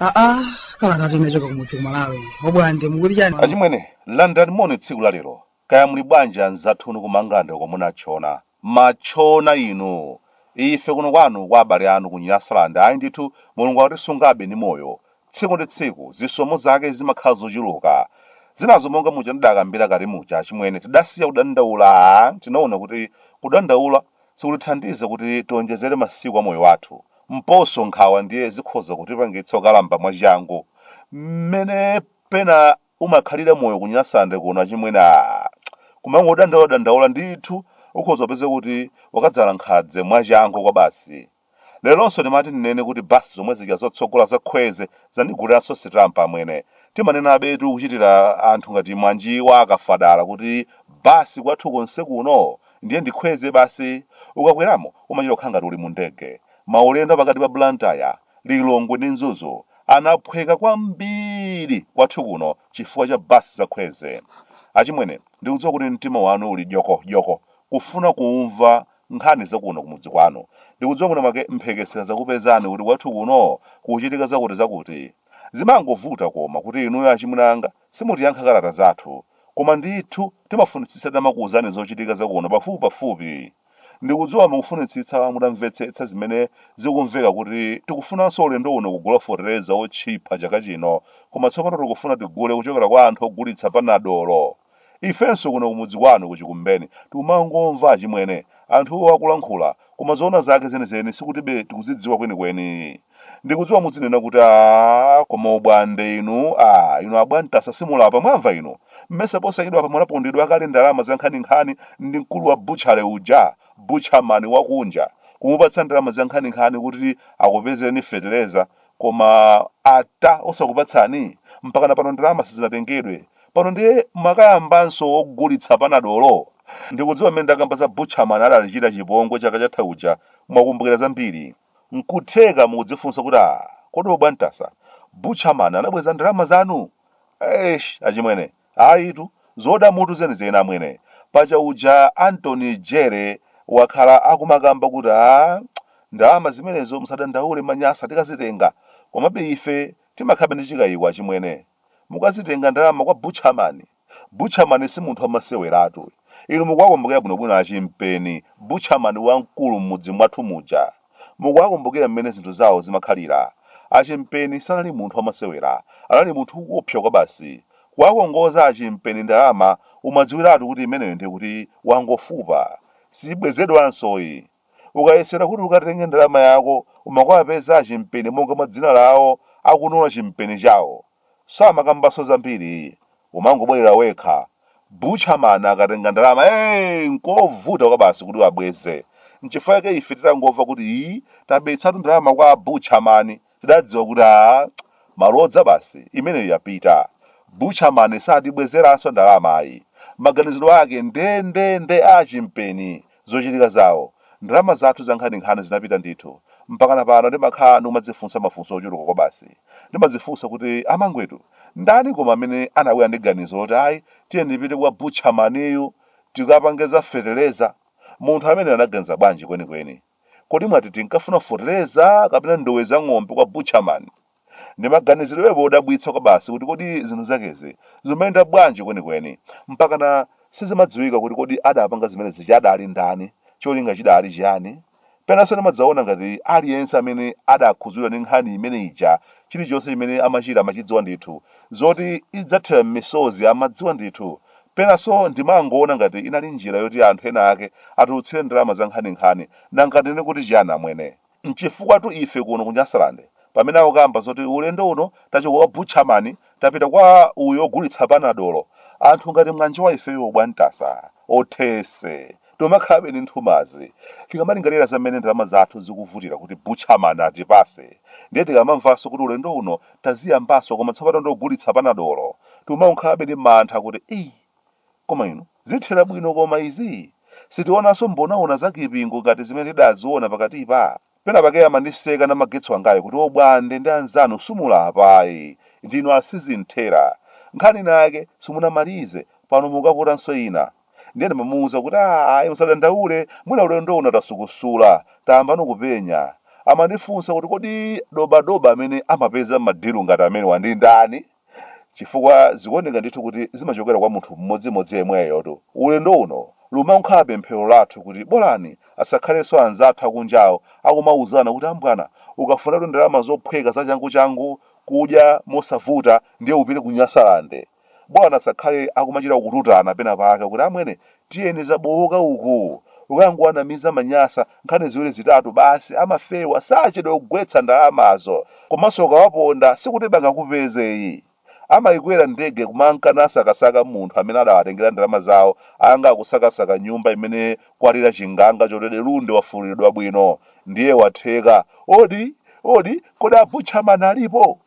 aa kalata yochoka kumudzi kumalawi ya obwande mukuti chani achimwene landirani moni tsiku la lero Kaya muli bwanji anzathu inu ku Mangalande uko munatchona. Matchona inu! Ife kuno kwanu kwa abale anu ku Nyasaland ayi ndithu Mulungu akutisungabe ndi moyo. Tsiku ndi tsiku zisomo zake zimakhala zochuluka. Zinazo monga muja ndidakambira kale muja achimwene tidasiya kudandaula aah tinaona kuti kudandaula sikutithandiza kuti tiwonjezere masiku a moyo wathu. Mposo nkhawa ndiye zikhoza kutipangitsa kukalamba mwachangu mmene pena umakhalira moyo ku nyasande kuno achimwene aah kumangodandaula dandaula ndithu ukhoza kupeza kuti wakadzala nkhadze mwachangu kwabasi leronso ndimati ndinene kuti bus zomwe zija zotsogola za kwezy zandiguliranso sitampa amwene timanenabetu kuchitira anthu ngati mwanjiwa akafadala kuti bus kwathu konse kuno ndiye ndi kwezy basi ukakweramo umachita kukhala ngati uli mu ndege maulendo apakati pa blantyre Lilongwe ndi Mzuzu anaphweka kwambiri kwathu kuno chifukwa cha bus za Kwezy. Achimwene, ndikudziwa kuti mtima wanu uli dyoko dyoko kufuna kumva nkhani za kuno kumudzi kwanu. Ndikudziwa mwina mwake mphekesera zakupezani kuti kwathu kuno kukuchitika zakuti zakuti. Zimangovuta koma kuti inuyo achimwene anga simutiyankha kalata zathu. Koma ndithu timafunitsitsa titamakuwuzani zochitika za kuno pafupi pafupi. Ndikudziwa mukufunitsitsa mutamvetsetsa zimene zikumveka kuti tikufunanso ulendo uno kugula fetereza wotchipa chaka chino koma tsopano tikufuna tigule kuchokera kwa anthu ogulitsa panadolo. Ifenso kuno kumudzi kwanu ku Chikumbeni tikumangomva achimwene anthuwo akulankhula koma zoona zake zenizeni sikutibe tikuzidziwa kwenikweni. ndikudziwa mudzinena kuti a koma ubwande inu a inu a bwantasa simulapa mwamva inu mmesa posachedwa apa munapondedwa kale ndalama zankhaninkhani ndi mkulu wa butchala uja butchaman wakunja kumupatsa ndalama zankhaninkhani kuti akupezereni fetereza koma ata osakupatsani mpakana pano ndalama sizinatengedwe pano ndiye mwakayambanso ogulitsa panadolo ndikudziwa mmene ndakamba za butchaman adatichita chipongwe chaka chatha uja mwakumbukira zambiri Nkutheka mukudzifunsa kuti ah kodi obwantasa, butcher man anabweza ndalama zanu? Eesh achimwene ayitu zoda mutu zenizeni amwene. Paja uja Attorney General wakhala akumakamba kuti ah ndalama zimenezo musadandaule manyasa tikazitenga. Komabe ife timakhalabe ndi chikayiko achimwene. Mukazitenga ndalama kwa butcher man? Butcherman si munthu wamaseweratu uyu. Inu mukuwakumbukira bwinobwino a Chimpeni, butcherman wamkulu m'mudzi mwathu muja. Mukuwakumbukira mmene zinthu zawo zimakhalira. A Chimpeni sanali munthu wamasewera. Anali munthu woopsa kwabasi. Kuwakongoza a Chimpeni ndalama umadziwiratu kuti imeneyo ndiye kuti wangofupa. Sibwezedwansoyi. Ukayesera kuti ukatenge ndalama yako umakuwapeza a Chimpeni monga mwa dzina lawo akunola chimpeni chawo. Samakambanso zambiri ayi. Umangobwerera wekha. Butcher man akatenga ndalama ee nkovuta kwabasi kuti abweze. Nchifukwa chake ife titangomva kuti ii tabetsatu ndalama kwa a butcher man Tidadziwa kuti aah malodza basi, imeneyo yapita. Butcher man satibwezeranso ndalama ayi. Maganiziro ake ndendende a Chimpeni, zochitika zawo. Ndalama zathu zankhaninkhani zinapita ndithu. Mpakana pano ndimakhala ndikumadzifunsa mafunso ochuluka kwabasi. Ndimadzifunsa kuti amangwetu, ndani koma amene anabwera ndi ganizo loti ayi tiyeni tipite kwa Butcher man yu tikapange za fetereza? Munthu ameneyo anaganiza bwanji kwenikweni? Kodi mwati tinkafuna fotereza kapena ndowe za ng'ombe kwa butcherman? Ndi maganizirobe odabwitsa kwabasi kuti kodi zinthu zakezi zimayenda bwanji kwenikweni, mpakana sizimadziwika kuti kodi adapanga zimene zija adali ndani, cholinga chidali chiyani? Penanso ndimadzaona ngati aliyense amene adakhudzidwa ndi nkhani imene ija chilichonse chimene amachita amachidziwa ndithu, zoti idzathera m'misozi amadziwa ndithu, Penanso ndimangoona ngati inali njira yoti anthu ena ake atulutsire ndalama zankhaninkhani. Nanga tinene kuti chiyani amwene? N'chifukwatu ife kuno ku Nyasaland pamene akukamba zoti ulendo uno tachoka kwa butcherman tapita kwa uyu ogulitsa panadolo, anthu ngati mwanjowa ifeyo obwantasa, othese, tomakhalabe ndi nthumazi tikamalingalira za mmene ndalama zathu zikuvutira kuti butcherman atipatse ndiye tikamamvanso kuti ulendo uno taziyambanso koma tsopano ndogulitsa panadolo tikumakhalabe ndi mantha kuti eyi koma inu zithera bwino koma izi sitionanso mbonaona za kipingo ngati zimene tidaziona pakatipa Pena pake amandiseka namagetsi wangayo kuti o Bwande ndi anzanu simulapa ayi ndinu asizinthera nkhani inake simunamalize pano mukaputanso ina ndiye ndimamuuza kuti a ayi musadandaule mwina ulendo uno tasukusula tayambano kupenya. Amandifunsa kuti kodi dobadoba amene amapeza ma deal ngati amenewa ndi ndani? chifukwa zikuoneka ndithu kuti zimachokera kwa munthu mmodzimodzi yemweyotu ulendo uno lumakhala pemphero lathu kuti bolani asakhalenso anzathu akunjawo akumauzana kuti ambwana ukafunatu ndalama zophweka zachanguchangu kudya mosavuta ndiye upite ku Nyasalande bolani asakhale akumachita kututana pena pake kuti amwene Tiyeni zabowoka uku. Ukangowanamiza manyasa nkhani ziwiri zitatu basi amafewa sachedwa kugwetsa ndalamazo. Komanso ukawaponda sikuti bangakupeze yi. Amayikwera ndege kumanka nasakasaka munthu amene adawatengera ndalama zawo anga akusakasaka nyumba imene kwalira chinganga choti Delunde wafululidwa bwino ndiye watheka. Odi! Odi! Kodi a Butcher Man alipo?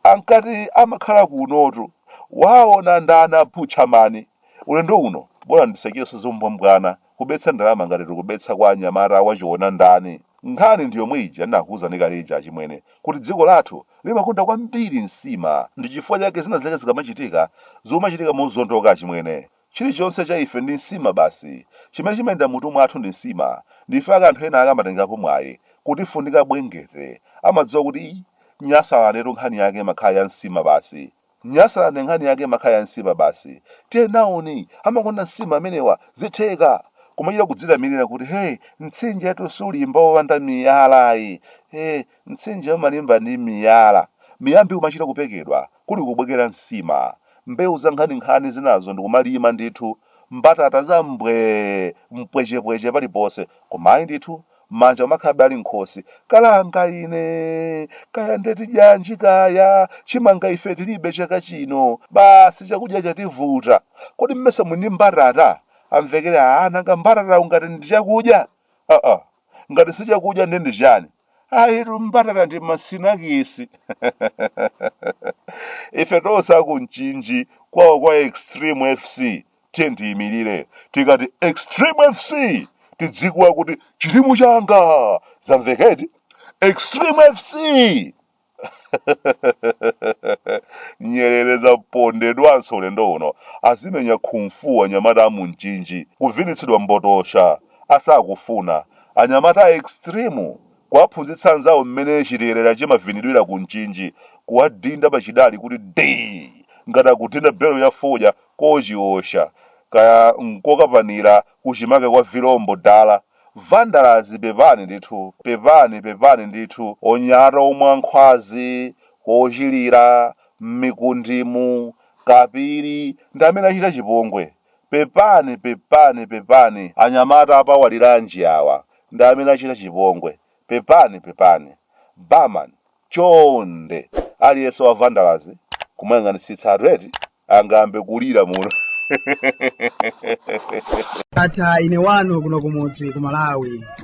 Ankati amakhala kunotu. Waona ndani a Butcher Mani? Ulendo uno bola ndisachitenso zombwambwana kubetsa ndalama ngati tikubetsa kwa anyamata a wachiona ndani. Nkhani ndi yomwe ija ndinakuuzani kale ija achimwene, kuti dziko lathu limakonda kwambiri nsima ndi chifukwa chake zina zake zikamachitika zumachitika mozondoka achimwene. Chilichonse cha ife ndi nsima basi, chimene chimayenda m'mutu mwathu ndi nsima, ndife ake anthu ena ake amatengerapo mwayi kutifundika bwengete, amadziwa kuti iih, Nyasalandetu nkhani yake imakhala ya nsima basi. Nyasaland nkhani yake imakhala ya nsima basi. Tiye nawoni amakonda nsima amenewa zitheka! Kumachita kudzitamilira kuti hey mtsinjetu sulimba wopanda miyala ayi. Hey mtsinje umalimba ndi miyala. Miyambi kumachita kupekedwa kuli kubwekera nsima. Mbewu za nkhaninkhani zinazo ndikumalima ndithu. Mbatata za mbwee, mpwechepweche paliponse. Koma ayi ndithu manja amakhalabe ali m'khosi kalanga ine kaya nde tidyanji kaya chimanga ife tilibe chaka chino basi chakudya chativuta kodi mmesa muli ndi mbatata amvekere a nanga mbatata ungati ndi chakudya aa ngati si chakudya nde ndi chani ayitu mbatata ndi masinakisi ife tonse a ku Mchinji kwawo kwa extreme fc tiye tiyimirire tikati extreme fc tidzikuwa kuti chitimu changa zamveka eti extreme fc nyerere zapondedwanso ulendo uno azimenya khumfu anyamata a mu Mchinji kuvinitsidwa mbotosha asakufuna anyamata a extreme Kuwaphunzitsa anzawo mmene chiterera chimavinidwira ku Mchinji, kuwadinda pa chidali kuti dii! ngati akudinda belo ya fodya ko Chiosha, kaya n'kokapanira kuchimake kwa vilombo dala. Vandalazi pepani ndithu, pepani, pepani ndithu. Onyamata omwe a Nkhwazi, Kochilira, m'Mikundimu, Kapiri, ndi amene achita chipongwe. Pepani pepani pepani anyamata a pa Waliranji awa ndi amene achita chipongwe pepani pepani barman chonde aliyense wa vandalazi kumayang'anitsitsatu eti angayambe kulira muno Ndatha ine wanu kuno kumudzi ku Malawi.